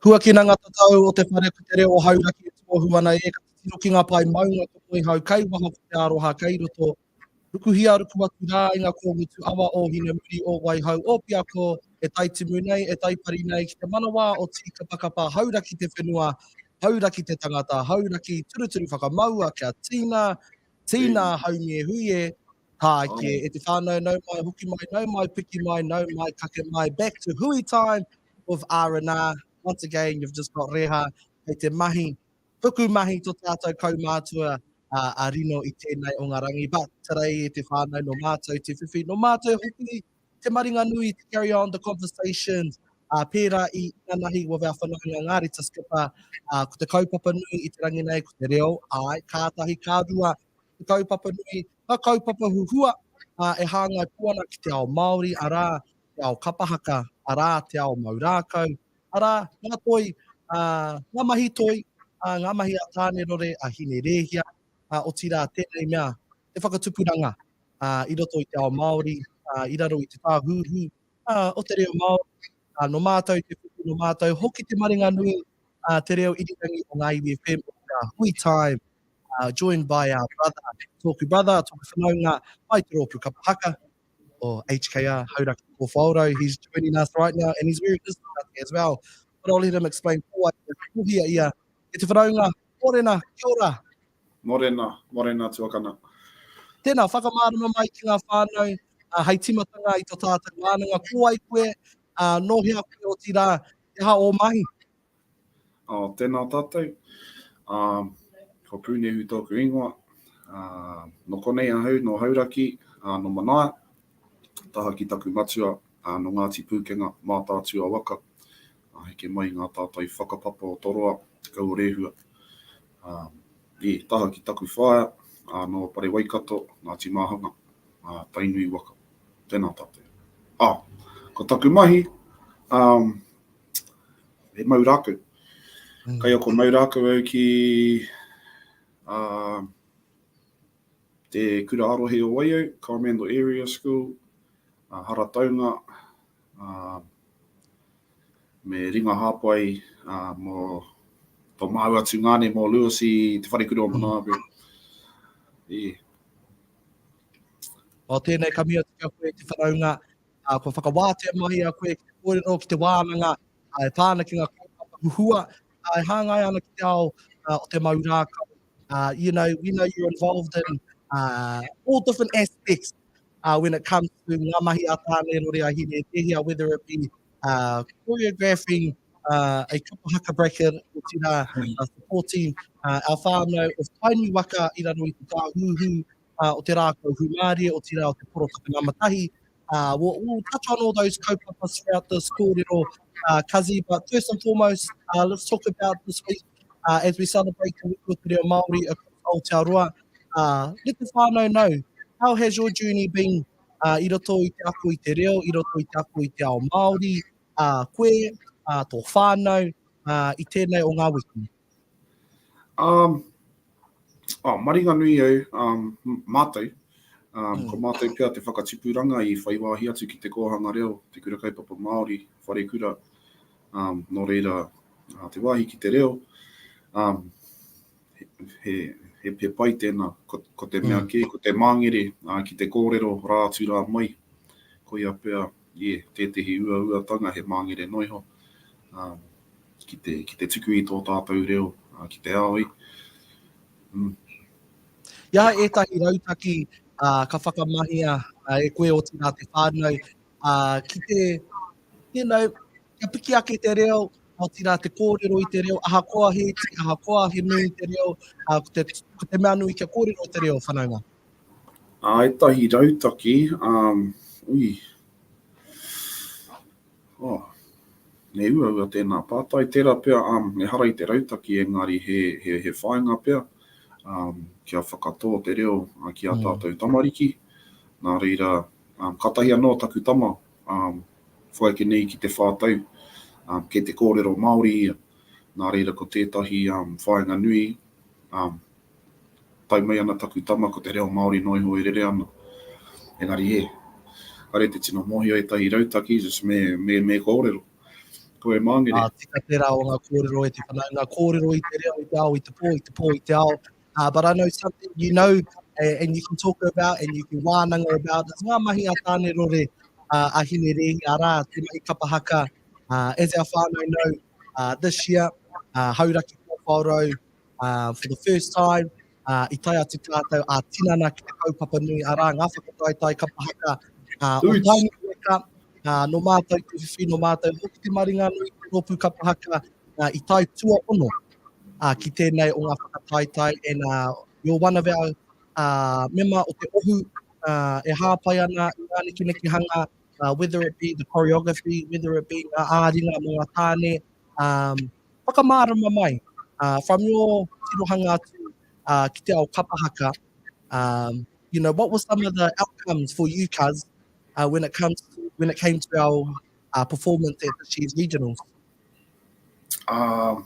Huakina ngā tatau o te whare ko te reo o Hauraki e tohu ana e ka titiro ki ngā pae maunga ko Moehau kai waho ko Te Aroha kai roto, rukuhia ruku atu rā i ngā kōngutu awa o Hinamuri, o Waihau, o Piako e taitimu nei, e taipari nei ki te manawa o Tīkapakapa, Hauraki te whenua, Hauraki te tangata, Hauraki turuturu whakamaua kia tīna, tīna haumi e hui e. Tāiki, e te whānau nau mai, hoki mai, nau mai, piki mai, nau mai, kake mai, back to hui time with R&R. Once again, you've just got Reha, kei te mahi, tuku mahi to tātou kaumātua a rino i tēnei o ngā rangi, but today, e te whānau, no mātou te whiwhi, no mātou hoki te maringanui to carry on the conversations, pērā i inanahi with our whanaunga Ngārita Skipper, ko te kaupapa nui i te rangi nei, ko te reo, āe, kātahi, ka rua, te kaupapa nui, ngā kaupapa huhua e hāngai pū ana ki te ao Māori, arā, te ao kapa haka, arā, te ao mau rākau, arā, ngā toi, ngā mahi toi, ngā mahi a Tānerore, a Hinerēhia, otirā tēnei mea, te whakatupuranga i roto i te ao Māori, i raro i te tāhuhu o te reo Māori, nō mātou te kupu, nō mātou hoki te maringa nui Ā, Te Reo Irirangi o Ngā Iwi FM o te Hui Time, joined by our brother, tōku brother, tōku whanaunga, mai te rōpū kapa haka o HKR, Hauraki Kōwhaorau, he's joining us right now and he's wearing his marae as well, but I'll let him explain ko wai ia, kohia ia, e te whanaunga, Morena, kia ora! Morena, morena tuakana. Tēnā, whakamārama mai ki ngā whānau, hei tīmatanga i tō tātou wānanga, ko wai koe, ā, nō hea koe, otirā, he aha ō mahi? Ā, tēnā tātou. Ā, ko Pūnehu tōku ingoa. Ā, nō konei ahau, nō Hauraki, ā, nō Manaia. Taha ki taku matua, ā, nō Ngāti Pūkenga, Mātaatua waka. Ā, heke mai i ngā tātai whakapapa o Toroa, Te Kau o Rēhua. Ā, ē, taha ki taku whaea, ā, nō Parewaikato, Ngāti Māhanga, ā, Tainui waka. Tēnā tātou. Ā, ko taku mahi, ā, he mau rākau. Kai ako mau rākau au ki, ā, te kura ā-rohe o Waiau, Coromandel Area School, ā, Harataunga, ā, me ringa hāpai, ā, mō tō māua tungāne mō Lewis i te wharekura o Manawaroa. Ē. O tēnei ka mea atu ki a koe i te whanaunga, ā, kua whakawātea mai i a koe ki te kōrero, ki te wānanga, ā, e pā ana ki ngā kaupapa huhua, ā, e hāngai ana ki te ao, ā, o te mau rākau. Ā, you know, we know you're involved in, ā, all different aspects, ā, when it comes to ngā mahi a Tāne Rore a Hine Tēhea, whether it be, ā, choreographing, ā, a Kupa Haka Brackett, otirā, supporting, ā, our whānau of Tainui waka i raro i te tāhuhu, ā, o te rākau hūmārie, otirā o te porotaka nama tahi, ā, we'll, we'll touch on all those kaupapa throughout this kōrero, ā, Kazi, but first and foremost, ā, let's talk about this week, ā, as we celebrate Te Wiki o te Reo Māori across Aotearoa, ā, let the whānau know, how has your journey been, ā, i roto i te ako i te reo, i roto i te ako i te ao Māori, ā, koe, ā, tō whānau, ā, i tēnei o ngā wiki? Um, oh, Maringanui au, um, mātou, um, mm. ko mātou pia te whakatipuranga i whai wāhi atu ki te kōhanga reo, te kura kaupapa Māori, whare kura, um, nō reira uh, te wāhi ki te reo, um, he, he, he pai tēnā, ko, ko te mea mm. kē, ko te māngere uh, ki te kōrero rā atu rā mai, ko ia pia Yeah, tētehi uauatanga he māngere noa iho ki te, ki te tuku i tō tātou reo ki te ao i. Mm. I a ētahi rautaki ka whakamahia e koe otirā te whānau ki te, you know, kia piki ake te reo, otirā te kōrero i te reo, ahakoa he iti, ahakoa he nui te reo, ko te, ko te mea nui kia kōrero te reo whanaunga. Ā, ētahi rautaki, ā, ui. Ā, me uaua tēnā pātai, tērā pea, ā, ehara i te rautaki engari he, he, he whāinga pea, ā, kia whakatō te reo ki ā tātou tamariki. Nā reira, ā, kātahi anō taku tama, ā, whakaeke nei ki te whā tau, ā, kei te kōrero Māori ia. Nā reira ko tētahi, ā, whāinga nui, ā, Pai mai ana taku tama ko te reo Māori noa iho e rere ana. Engari e. Kare te tino mōhio ētahi rautaki just me, me, me kōrero. Ko e māngere. Ā, tika tērā o ngā kōrero e te whanaunga, kōrero i te reo, i te ao, i te pō, i te pō, i te ao. Uh, but I know something you know eh, and you can talk about and you can wānanga about is ngā mahi a Tāne Rore, uh, a Hine Rehi, arā, te mahi kapa haka. Uh, as our whānau know, uh, this year, uh, Hauraki 440, for the first time, i tae atu tātou ā tinana ki te kaupapa nui, arā, ngā whakataetae kapa haka o Tainui weka, nō mātou te whiwhi, nō mātou hoki te maringanui i te rōpū kapa haka i tae tuaono ki tēnei o ngā whakataetae, and you're one of our mema o te ohu e hāpai ana i ngā nekenekehanga, whether it be the choreography, whether it be ngā āringa mō ngā tāne, Whakamārama mai, from your tirohanga atu ki te ao kapa haka, you know, what were some of the outcomes for you cuz when it comes to, when it came to our performance at this year's regionals? Ko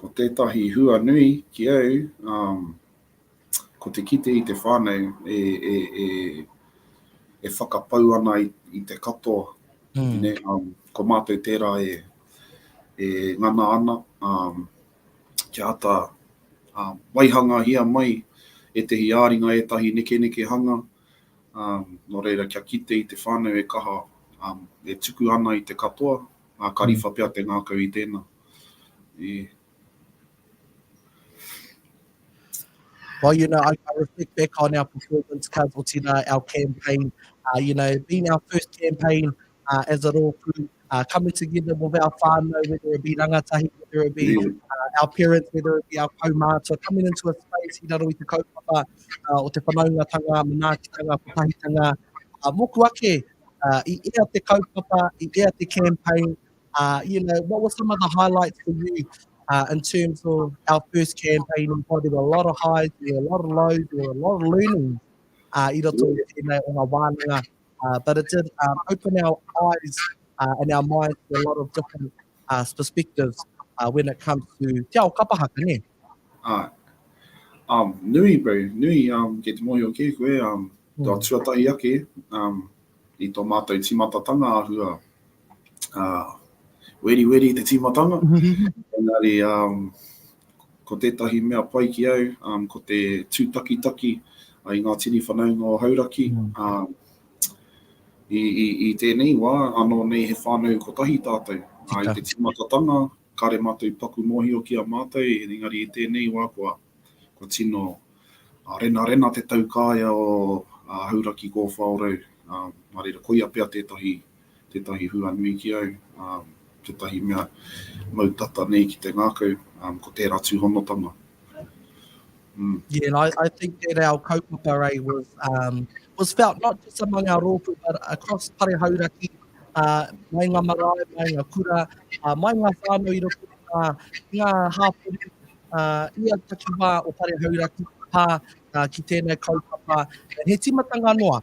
tētahi hua nui ki au, ko te kite i te whānau e whakapau ana i te katoa, ko mātou tērā e ngana ana kia āta waihangahia mai ētehi ā-ringa, ētahi nekenekehanga, nō reira kia kite i te whānau e kaha, e tuku ana i te katoa, ā, ka riwha pea te ngākau i tēnā. Well, you know, I, I reflect back on our performance, Cuz, or Tina, our campaign. Uh, you know, being our first campaign uh, as a rōpū, uh, coming together with our whānau, whether it be rangatahi, whether it be uh, our parents, whether it be our kaumātua, coming into a space i raro i te kaupapa uh, o te whanaungatanga, manaakitanga, patahitanga, uh, moku ake uh, i ea te kaupapa, i ea te campaign, Uh, you know, what were some of the highlights for you uh, in terms of our first campaign? Oh, there were a lot of highs, there were a lot of lows, there were a lot of learnings uh, i roto i tēnei o ngā wānanga. Uh, but it did um, open our eyes uh, and our minds to a lot of different uh, perspectives uh, when it comes to te ao kapahaka, ne? Uh, um, nui, bro, nui, um, ke te mōhio ke koe, um, mm. tō tuatahi ake, um, i tō mātou timatatanga ahua, uh, weriweri te tīmatanga, engari um, ko tētahi mea pai ki au, um, ko te tūtakitaki uh, i ngā tini whanaunga o Hauraki, mm. um, i, i, i tēnei wā, anō nei he whānau kotahi tātou. Uh, I te tīmatatanga, kāre mātou paku mōhio ki a mātou, engari i tēnei wā kua Kua tino renarena te taukaea o Hauraki Kōwhaorau mā reira koia pea tētahi, tētahi hua nui ki au, tētahi mea mau tata nei ki te ngākau, ko tērā tūhonotanga. Yeah, and I, I think that our kaupapa eh, was, um, was felt not just among our rōpū, but across Pare Hauraki, uh, mai ngā marae, mai ngā kura, uh, mai ngā whānau i roto ngā, ngā hāpori, ia takiwā o Pare Hauraki pā ki tēnei kaupapa he tīmatanga noa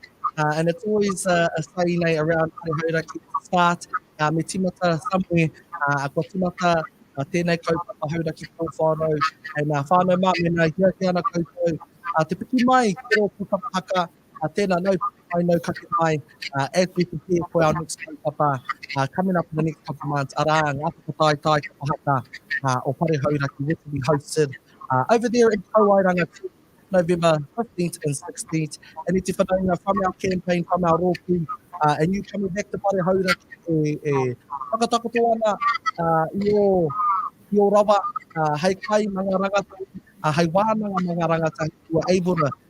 and it's always a, a say nei around Pare Hauraki start uh, me tīmata somewhere uh, kua tīmata uh, tēnei kaupapa Hauraki Kōwhārau and uh, whānau mā mena hia hia ana koutou uh, te piki mai ki rō puka haka Uh, tēnā, no whakapae, no kake mai. Uh, as we prepare for our next kaupapa, uh, coming up in the next couple of months, arā, ngā whakataetae ki te haka uh, o Pare Hauraki, which will be hosted uh, over there in Kauairanga, November 15th and 16th. And it's whanaunga from our campaign, from our rōpū, uh, and you coming back to Pare Hauraki e, e whakatakoto ana uh, i, o, i o rawa uh, hei kai ma ngā rangatahi, uh, hei wānanga ma ngā rangatahi, who are able to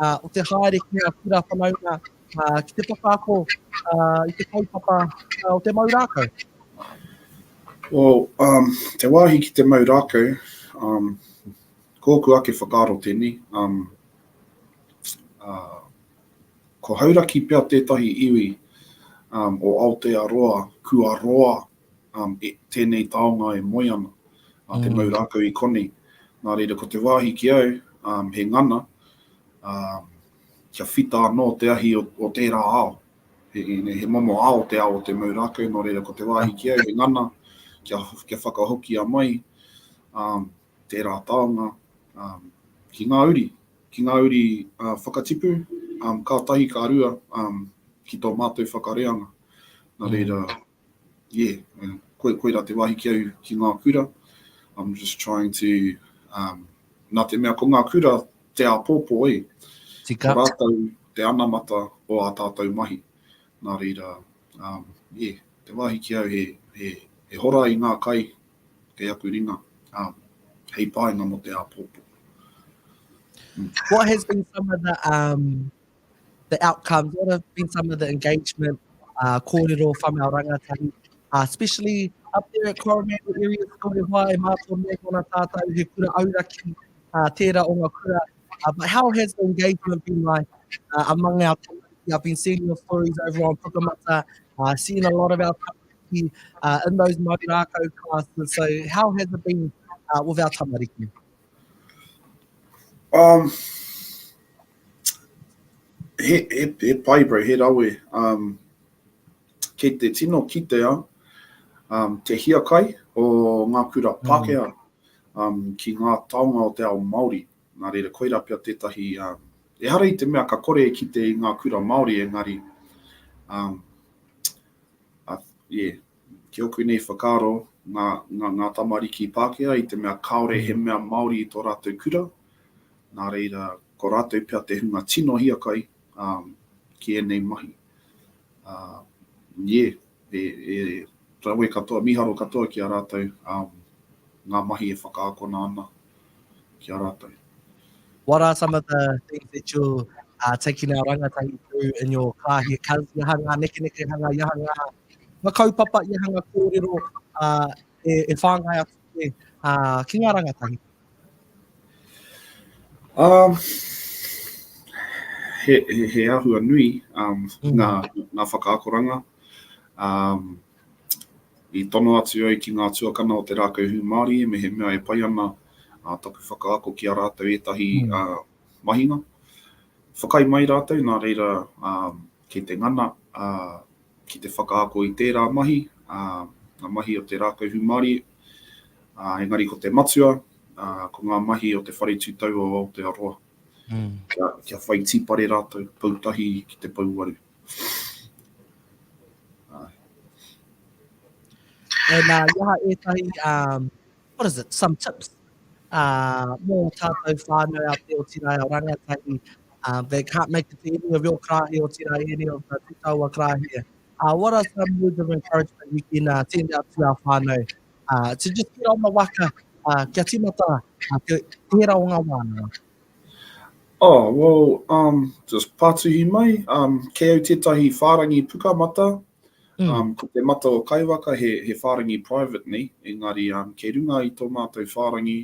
ā, o te haere ki ngā kura whanaunga, ā, ki te whakaako, ā, i te kaupapa, ā, o te mau rākau. Well, um, te wāhi ki te mau rākau, um, kōku ake whakaaro tēnei, um, uh, ko hauraki pea tētahi iwi um, o Aotearoa kua roa e tēnei taonga e moe ana, a te mau rākau i konei. Nā reira ko te wāhi ki au, he ngana, kia whita anō te ahi o tērā ao. He momo ao te ao o te mau rākau, nō reira ko te wāhi ki au he ngana, kia whakahokia mai tērā taonga ki ngā uri, ki ngā uri whakatipu, ka tahi ka rua ki tō mātou whakareanga. Nā reira, Yeah, koira te wahi ki au ki ngā kura, I'm just trying to, nā te mea ko ngā kura te āpōpō e, ko rātou te anamata o ā tātou mahi. Nā reira, yeah, te wahi ki au he hora i ngā kai kei aku ringa, hei painga mō te āpōpō. What has been some of the the outcomes, what have been some of the engagement uh, kōrero from our rangatahi, uh, especially up there at Coromandel area, ko te hoa e mātou mea kona tātou he kura auraki, uh, tērā o ngā kura. Uh, but how has the engagement been like uh, among our community? I've been seeing your stories over on Pukamata, uh, seeing a lot of our tamariki uh, in those Marirākau classes. So how has it been uh, with our tamariki? Um, He pai bro, he rawe. Kei te tino kitea te hiakai o ngā kura Pākehā ki ngā taonga o te ao Māori. Nā reira, koirā pea tētahi, ehara i te mea ka kore e kite i ngā kura Māori engari, yeah, Ki ōku nei whakaaro, ngā, ngā, ngā tamariki Pākehā i te mea kāore he mea Māori i tō rātou kura, nā reira, ko rātou pea te hunga tino hiakai, ā, ki ēnei mahi. Ā, ie, e, e rawe katoa, mīharo katoa ki a rātou, ā, ngā mahi e whakaakona ana. ki a ratou. What are some of the things that you're uh, taking our rangatahi through in your car here? Cause i aha ngā nekeneke hanga, i aha ngā, ngā kaupapa, i aha ngā kōrero uh, e, e whāngai atu e, uh, ki ngā rangatahi? Um, he, he, he ahua nui um, mm. ngā, ngā whakaakoranga. Um, I tono atu au ki ngā tuakana o te rākau hūmārie mehemea e pai ana taku whakaako ki a rātou ētahi mahinga. Whakaae mai rātou, nā reira kei te ngana ki te whakaako i tērā mahi, ngā mahi o te rākau hūmārie, engari ko te matua, ko ngā mahi o te Whare Tūtau o Aotearoa, kia whai tīpare rātou, pou tahi ki te pouaru. And uh, i aha ētahi, um, what is it, some tips uh, mō tātou whānau a Te Otirai o Rangatahi. Uh, they can't make it to any of your karahi o tira, any of the tutaua karahi. Uh, what are some words of encouragement we can uh, send out to our whānau uh, to just get on the waka, uh, kia timata, uh, te, te hera o ngā wānanga? Oh, well, um, just pātuhi mai, um, kei au tētahi whārangi pukamata, mm. um, ko te mata o Kaiwaka he, he whārangi private nei, engari um, kei runga i tō mātou whārangi,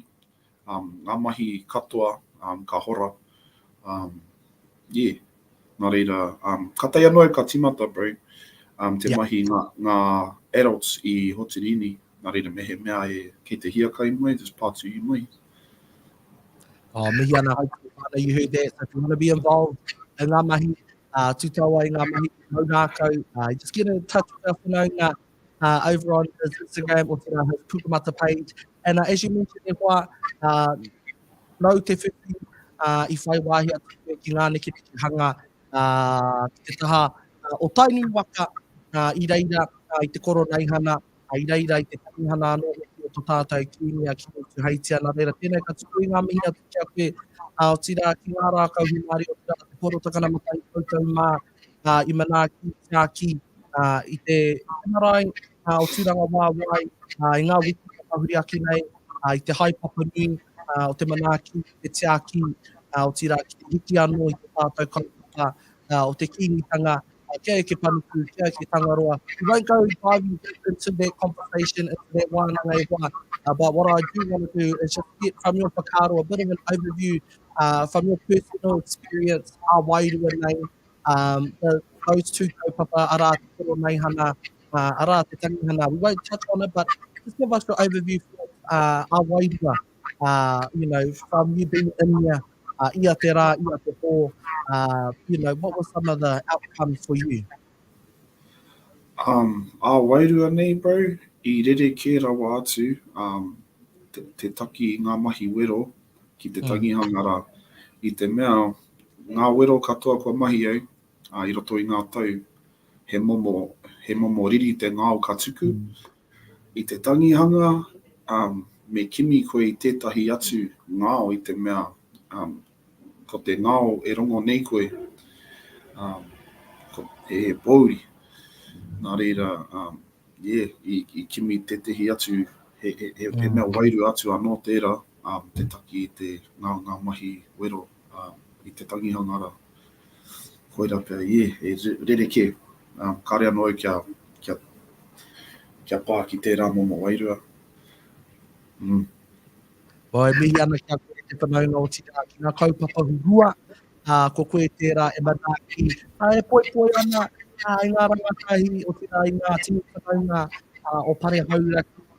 um, ngā mahi katoa, um, ka hora, um, yeah. Nā reira, ka tae anō au ka timata, Brad, te mahi ngā adults i Hoturini, nā reira mehemea e kei te hiakai mai, just pātuhi mai. Oh, mihi ana hai koe whānau, you heard that, so if you want to be involved in ngā mahi, uh, tūtau ai ngā mahi, mau rākau, uh, just get in touch with our whanaunga uh, over on his Instagram, o tērā his Pukamata page, and uh, as you mentioned e hoa, uh, Nau te whiwhi i whai wāhi atu koe ki ngā nekeneke hanga ki te taha o Tainui waka i reira i te Koroneihana, i reira i te Tangihana anō hoki o to tātau Kīngi a Kīngi-Tūheitia. Nā reira, tēnei ka tuku i ngā mihi atu ki a koe, otirā ki ngā rākau hūmārie, otirā te Pōro Takana Matahi koutou mā. ā, i manaaki te Tākī, ā, i te marae, ā, o Tūrangawaewae, ā, i ngā wiki ka tahuri ake nei, ā, i te haepapa nui, ā, o te manaaki i te Tākī, ā, otirā ki te hiki anō i te tātau kaupapa, ā, o te Kīngitanga, ā, kia eke panuku, kia eke Tangaroa. We won't go diving deep into that conversation, into that wānanga e wā, ā, but what I do want to do is just get from your whakaaro a bit of an overview uh, from your personal experience, a wairua nei, um, the, those two kaupapa, ara te koro nei hana, uh, ara te tangihana. We won't touch on it, but just give us your overview for uh, a wairua, uh, you know, from you being in there, uh, ia te rā, ia te pō, uh, you know, what were some of the outcomes for you? Um, a wairua nei, bro, i rere kē rawa atu um, te, te taki i ngā mahi wero, ki te tangihanga rā, i te mea ngā wero katoa kua mahi ai, ā, i roto i ngā tau, he momo, he momo riri te ngao ka tuku. I te tangihanga, me kimi koe i tētahi atu ngao i te mea, ko te ngao e rongo nei koe, ko, he pōuri. Nā reira, yeah, i, i kimi tētahi atu, he, he, he mea wairua atu anō tērā. te taki i te ngāngā mahi wero i te tangihanga rā. Koirā pea i ēhei rerekē, kāre anō au kia pā ki tērā momo wairua. Āe, mihi ana ki a koe te whanaunga otirā ki ngā kaupapa huhua, ā, ko koe tērā e manaaki, ā, e poipoi ana i ngā rangatahi, otirā i ngā tini whanaunga o Parehauraki,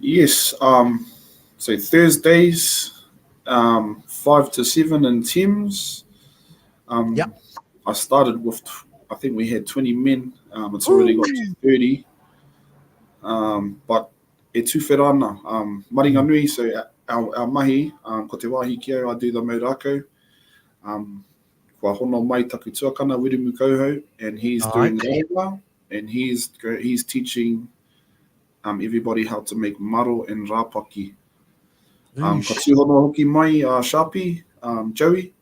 Yes, um, so Thursdays, um, five to seven in Thames. Um, yep. I started with, I think we had 20 men. Um, it's already Ooh. got to 30. Um, but e tūwhera ana, um, maringa mm. nui, so our, our mahi, um, ko te wāhi ki au, I do the maurākau. Um, kua hono mai taku tuakana, Wirumu Kauhau, and he's oh, doing okay. Rāwa, and he's, he's teaching um, everybody how to make maro and rapaki. Um, ka tūhono hoki mai a uh, Sharpie, um, Joey,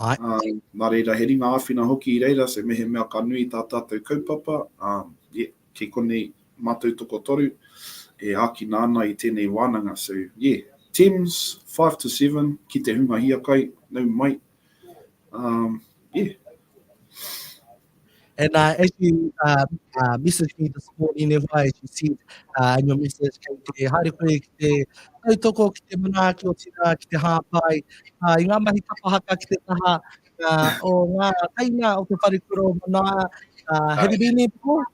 Ai. Um, nā reira, he ringa āwhina hoki i reira, se mehe mea ka nui tā tātou kaupapa, um, yeah, kei konei mātou toko toru, e ākina ana i tēnei wānanga. So, yeah, Thames, 5 to 7, ki te hunga hiakai, nau mai, Um, yeah. And uh, as you uh, uh, messaged me this morning, e wai, you said uh, in your message, kei te haere koe ki te tautoko, ki te manaaki o tira, ki te hāpai, uh, i ngā mahi kapahaka ki te taha uh, o ngā taina o te wharekura o manaā. Uh, have you been there before?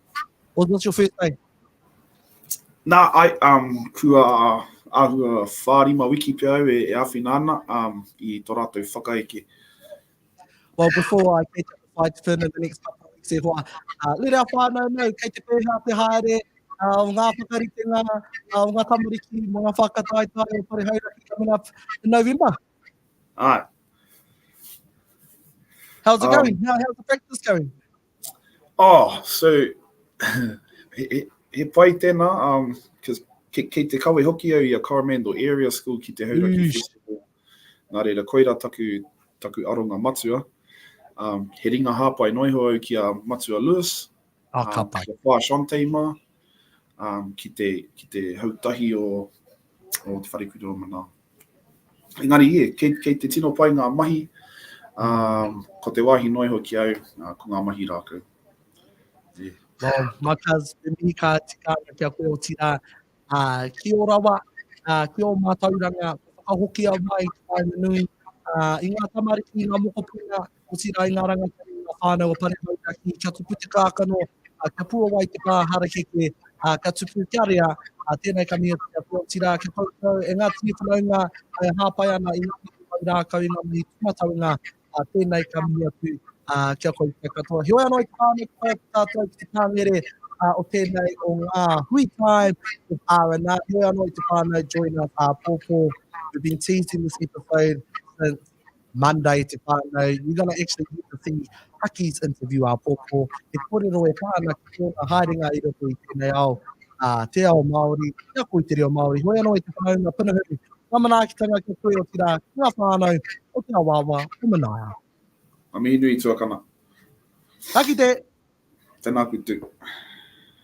Or was this your first time? Nā, ai, um, kua āhua whārima wiki pea au e, e āwhina ana um, i tō rātou whakaeke. Well, before I get fight for the next couple of weeks e hoa, uh, let our whānau know, kei te pēhā te haere, uh, o ngā whakaritenga, uh, o ngā tamariki, mo ngā whakataetae o Pare Hauraki coming up in November. Aye. How's it oh. going? How, how's the practice going? Oh, so, he, he pai tēnā, um, cause kei, kei te kawe hoki au i a Coromandel Area School ki te Hauraki mm. Festival. Nā reira, koira taku, taku aronga matua. Um, he ringa hāpai noiho au ki a Matua Lewis. Ah, um, ka pai. Ki a Pā Shantei mā. Um, ki, te, ki te hautahi o, o te wharekura o Manao. Engari, ie, kei, kei te tino pai ngā mahi, ā, ko te wāhi noa iho ki au, ā, ko ngā mahi rākau. Ie. Well, Matas, me mihi ka tika ana ki a koe, otirā, ā, ki ō rawa, ā, ki ō mātauranga, kua whakahokia mai te whāinga nui, ā, i ngā tamariki, i ngā mokopuna, Otirā i ngā rangatahi o ngā whānau o Paremauiraki kia tupu te kākano, kia puawai te pā harakeke, kia tupu, kia rea, tēnei ka mihoti atu, otirā kia koutou e ngā tini whanaunga e hāpai ana i ngā mahi mau rākau, i ngā mahi tūmataunga, tēnei ka mihi atu ki a koutou katoa. Heoi anō i te pā nei ka tae atu tātou ki te pāngere o tēnei o ngā hui tae o R&R, heoi anō i te pā nei join us āpōpō, we've been teasing this episode since Monday te whānau, you're going to actually get to see Aki's interview a Popo, he kōrero e pā ana ki tōna haerenga i roto i tēnei ao, ā, te ao Māori, te ako i te reo Māori, hoi anō i te whanaunga punahuri, ngā manaakitanga ki a koe otirā, ki ngā whānau o te awaawa o Manaia. Ngā mihi nui tuakana. Ka kite! Tēnā koutou.